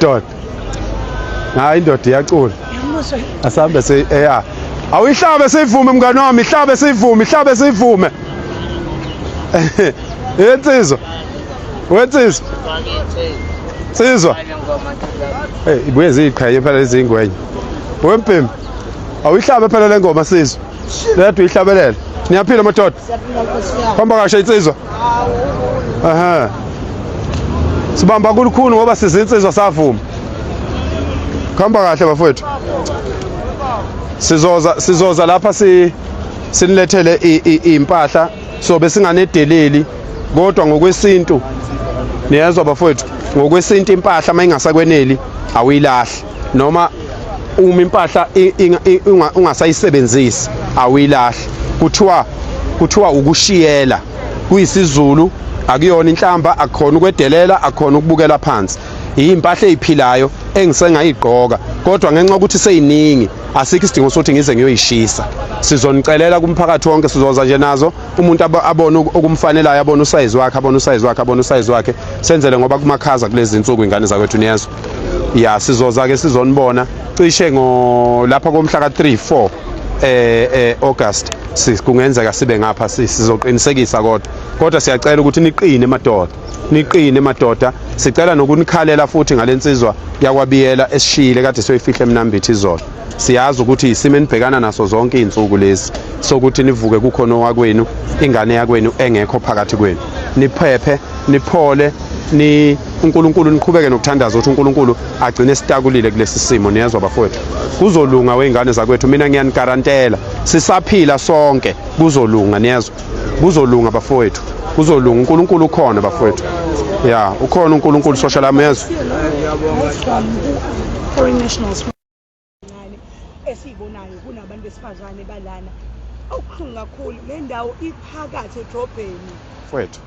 Dot. Hayi indoda iyacula. Asambe se eya. Awuyihlabe sivume mngane wami, ihlabe sivume, ihlabe sivume. Yensizwa. Wensizwa. Sizwa. Hey, ibuye ziqhaye phela lezingwenye. Wempimpi. Awuyihlabe phela lengoma sizwa. Leyadwa ihlabelela. Niyaphila madoda. Hamba kashe insizwa. Aha. Sibamba kulukhulu ngoba sizinsizwa savuma. Khamba kahle bafowethu. Sizoza sizoza lapha si sinilethele impahla so besinganedeleli kodwa ngokwesintu niyezwa bafowethu ngokwesintu impahla uma ingasakweneli awuyilahli noma uma impahla ungasayisebenzisi awuyilahle kuthiwa kuthiwa ukushiyela kuyisizulu akuyona inhlamba akukhona ukwedelela akukhona ukubukela phansi yimpahla eyiphilayo engisengayigqoka kodwa ngenxa ukuthi seyiningi asikho isidingo sokuthi ngize ngiyoyishisa sizonicelela kumphakathi wonke sizoza nje nazo umuntu abone okumfanelayo abone usayizi wakhe abone usayizi wakhe abone usayizi wakhe senzele ngoba kumakhaza kulezi nsuku ingane zakwethu niyezwa ya sizoza ke sizonibona cishe ngo lapha komhla ka 3 4 eh eh August sis kungenzeka sibe ngapha sis sizoqinisekisa kodwa kodwa siyacela ukuthi niqine madoda niqine madoda sicela nokunikhalela futhi ngalensizwa yakwabiyela esishile kade soyifihle emnambithi izolo siyazi ukuthi isimo enibhekana naso zonke izinsuku lezi sokuthi nivuke kukhona owakwenu ingane yakwenu engekho phakathi kwenu niphephe niphole ni uNkulunkulu niqhubeke nokuthandaza ukuthi uNkulunkulu agcine sitakulile kulesi simo niyezwa bafowethu kuzolunga weingane zakwethu mina ngiyanigarantela sisaphila sonke kuzolunga niyezwa kuzolunga bafowethu kuzolunga uNkulunkulu ukhona bafowethu ya ukhona uNkulunkulu sosha lamezwe ncane esiyibonayo kunabantu besifazane balana okuhlungu kakhulu le ndawo iphakathi edrobheni fwethu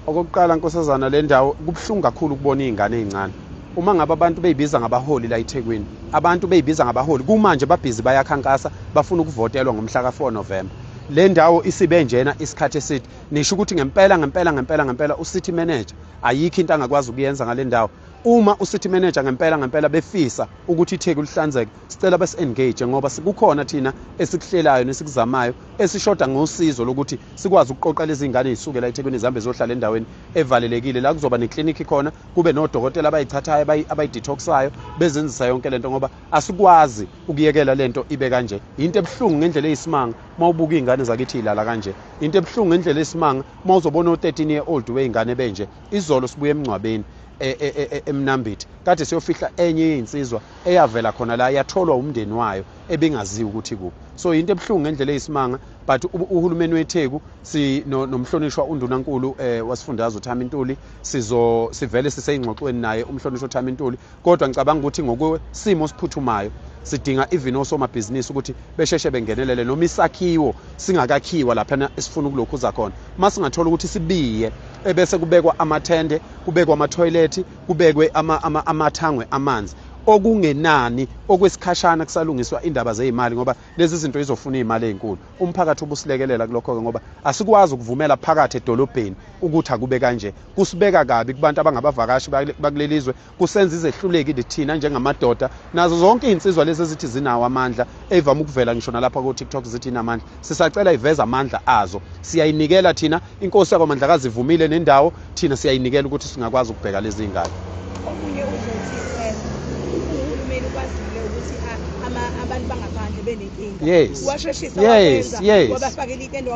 okokuqala nkosazana le ndawo kubuhlungu kakhulu ukubona iy'ngane ey'ncane uma ngabe abantu beyibiza ngabaholi la ethekwini abantu beyibiza ngabaholi kumanje babhizi bayakhankasa bafuna ukuvotelwa ngomhla ka-4 novemba le ndawo isibe njena isikhathi eside nisho ukuthi ngempela ngempela ngempela ngempela ucity manager ayikho into angakwazi ukuyenza ngale ndawo Uma uCity manager ngempela ngempela befisa ukuthi iTheku lihlanzeke, sicela bes engage ngoba sikukhona thina esikuhlelayo nesikuzamayo esishoda ngosizo lokuthi sikwazi ukuqoqa lezi ngane ezisukela eThekwini zihambe zohlala endaweni evalelekile la kuzoba neclinic khona kube nodokotela abayithathayo abayidetoxayo bezenzisa yonke lento ngoba asikwazi ukuyekela lento ibe kanje. Into ebuhlungu ngendlela eyisimanga mawubuka izingane zakithi ilala kanje. Into ebuhlungu ngendlela eyisimanga mawuzobona o 13 year old wezingane benje. Izolo sibuye emngcwabeni e, e, e, eMnambithi kade siyofihla enye yezinsizwa eyavela khona la yatholwa umndeni wayo ebingaziwa ukuthi kuphi so yinto ebuhlungu ngendlela eyisimanga but uhulumeni weTheku si nomhlonishwa undunankulu eh, wasifundazwe uThami Ntuli sizo sivele siseyingxoxweni naye umhlonishwa uThami Ntuli kodwa ngicabanga ukuthi ngokwesimo siphuthumayo sidinga even osomabhizinisi ukuthi besheshe bengenelele noma isakhiwo singakakhiwa laphana esifuna ukulokhu uza khona uma singathola ukuthi sibiye ebese kubekwa amathende kubekwa amathoyilethi kubekwe amathangwe amanzi okungenani okwesikhashana kusalungiswa indaba zeyimali ngoba lezi zinto izofuna izimali ezinkulu umphakathi ubusilekelela kulokho ke ngoba asikwazi ukuvumela phakathi edolobheni ukuthi akube kanje kusibeka kabi kubantu abangabavakashi bakuleli zwe kusenza izehluleki lithina njengamadoda nazo zonke iy'nsizwa lezi ezithi zinawo amandla eyivame ukuvela ngisho nalapha ko-tiktok zithi inamandla sisacela iveze amandla azo siyayinikela thina inkosi yakwamandlakazi ivumile nendawo thina siyayinikela ukuthi singakwazi ukubheka lezi y'ngane omunye uzothi um uhulumeni ukwazile ukuthi abantu bangaphandle benenkinga washeshisa wabafakela itende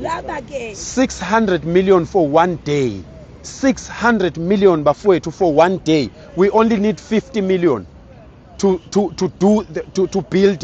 laba-ke 600 million for one day 600 million bafowethu for one day we only need 50 million to to to do the, to to build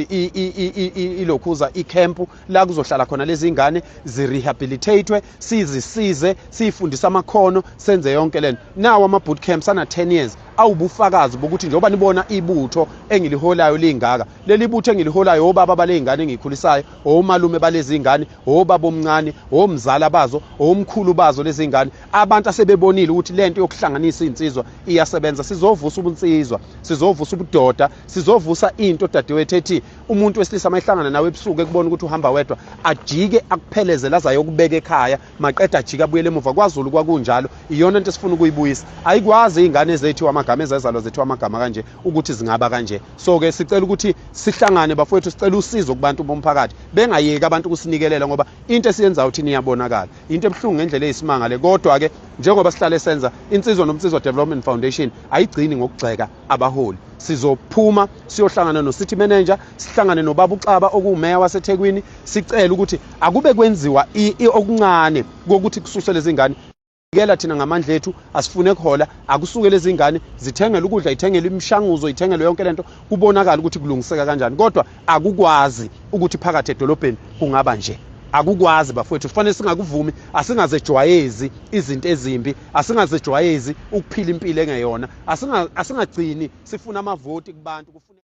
ilokhuza icamp la kuzohlala khona lezi ngane zirehabilitatwe sizisize sifundisa amakhono senze yonke lento nawo ama boot camps ana 10 years awubufakazi bokuthi njengoba nibona ibutho engiliholayo lingaka leli butho engiliholayo obaba balezingane engikhulisayo omalume balezingane obaba omncane omzala bazo omkhulu bazo lezingane abantu asebebonile ukuthi lento yokuhlanganisa insizwa iyasebenza sizovusa ubunsizwa sizovusa ubudoda sizovusa into dadewethu ethi umuntu wesilisa mayihlangana nawe ebusuku ekubona ukuthi uhamba wedwa ajike akuphelezela azayo kubeka ekhaya maqeda ajike abuyele emuva kwaZulu kwakunjalo iyona into esifuna ukuyibuyisa ayikwazi izingane zethu amagama ezazalwa zethu amagama kanje ukuthi zingaba kanje so ke sicela ukuthi sihlangane bafowethu sicela usizo kubantu bomphakathi bengayeki abantu kusinikelela ngoba into esiyenzayo thina iyabonakala into ebuhlungu ngendlela eyisimanga le kodwa ke njengoba sihlale senza insizwa nomnsizwa development foundation ayigcini ngokugxeka abaholi sizophuma siyohlangana no-city manager sihlangane nobaba uxaba okuwumeya wasethekwini sicele ukuthi akube kwenziwa okuncane kokuthi kususele izingane Kela thina ngamandla ethu asifune kuhola akusuke lezingane zithengele ukudla ithengele imishanguzo ithengele yonke lento kubonakala ukuthi kulungiseka kanjani kodwa akukwazi ukuthi phakathi edolobheni kungaba nje akukwazi bafowethu kufanele singakuvumi asingazejwayezi izinto ezimbi asingazejwayezi ukuphila impilo engeyona asingagcini sifuna amavoti kubantu